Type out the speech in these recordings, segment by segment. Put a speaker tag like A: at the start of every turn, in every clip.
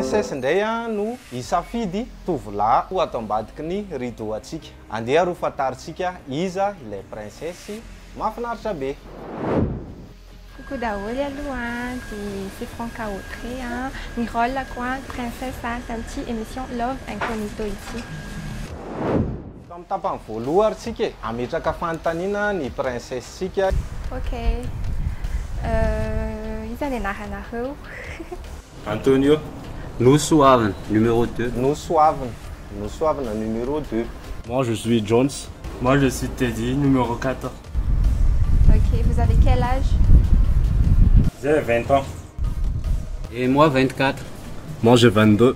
A: Princesse indray no hisafidy tovolahy ho ato ambadiky ny rideau antsika. Andeha ary ho fantarintsika iza ilay princesse mahafinaritra be.
B: Coucou daholo aloha an, dia c'est Franca Autré an, ny rôle-ko an, Princesse an, tamin'ity émission Love Incognito ity.
A: Efa amin'ny tapany voaloha ary tsika e! Hametraka fanontaniana ny princesse tsika. Ok.
B: Euh, iza ny anaranareo?
C: Antonio,
D: Nosoavina, numéro deux. Nosoavina,
A: Nosoavina, numéro deux. Moi je suis
C: Jones. Moi je suis Teddy, numéro quatre. Ok,
B: vous avez quel âge?
C: J'ai vingt ans. Et
D: moi vingt-quatre. Moi j'ai
C: vingt-deux.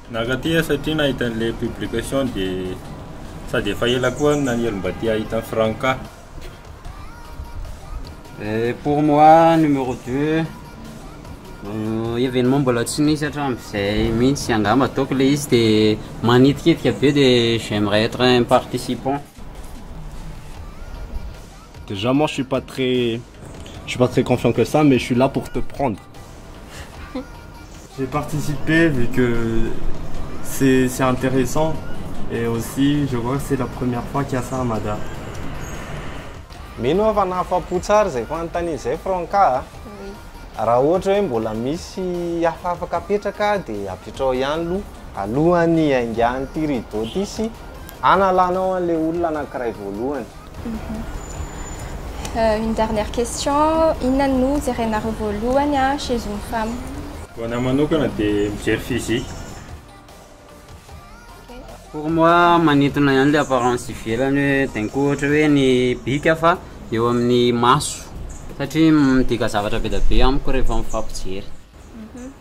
C: Nankaty aho satria nahita an'ilay publication dia sady efa ela koa aho no naniry mba te hahita an'i Franca.
D: Eh, pour moi numéro deux euh, événement mbola tsy nisy hatramin'izay mihitsy angamba ataoko ilay izy dia manitikitika be dia j'aimerais être un participant.
C: Déjà moi je suis pas très je suis pas très confiant que ça mais je suis là pour te prendre. J'ai participé vu que c'est c'est intéressant et aussi je vois que c'est la première fois qu'il y a ça à Mada. Mino
A: aho fa nahafapo tsara izay fanontaniana izay Franca a!
B: Raha ohatra hoe
A: mbola misy hafa afaka apetraka dia apetraho ihany aloha alohan'ny hiaingan'ity rideau ity sy hanalanao an'ilay olona anankiray voalohany.
B: Une dernière question, inona no jerenareo voalohany chez une femme? Ho anah manokana
C: dia mijery physique.
D: Pour moi manintona ihany le apparence ivelany hoe d'un coup ohatra hoe ny bika fa eo amin'ny maso satria midika zavatra be dia be amiko rehefa mifampijery.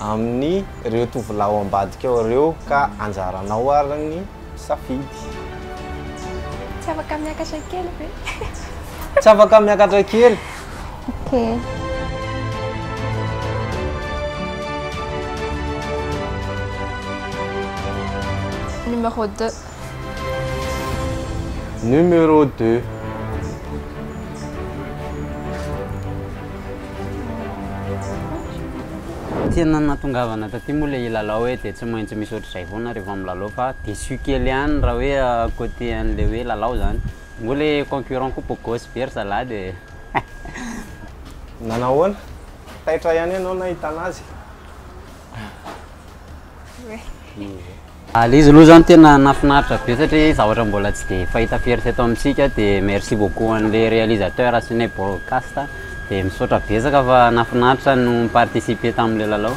A: Amin'ny reo tovolahy ao ambadikao reo ka anjaranao ary ny safidy. Tsy
B: afaka miakatra kely ve? Tsy
A: afaka miakatra kely? Ok.
B: Numéro deux.
A: Numéro deux.
D: Tena nahatongavana taty moa ilay hilalao hoe dia tsy maintsy misy ohatr'izay foana rehefa milalao fa déçu kely ihany raha hoe côté an'ilay hoe lalao izany. Moa ilay concurrent koa beau gosse be ry zalahy dia
A: Nanao ahoana? Taitra ihany ianao nahitana azy?
D: Ilay izy aloha zany tena nahafinaritra be satria zavatra mbola tsy dia fahita firy teto amintsika dia merci beaucoup an'ilay réalisateur sy ny Broadcast dia misaotra betsaka fa nahafinaritra ny no mi-participer tamin'ilay lalao.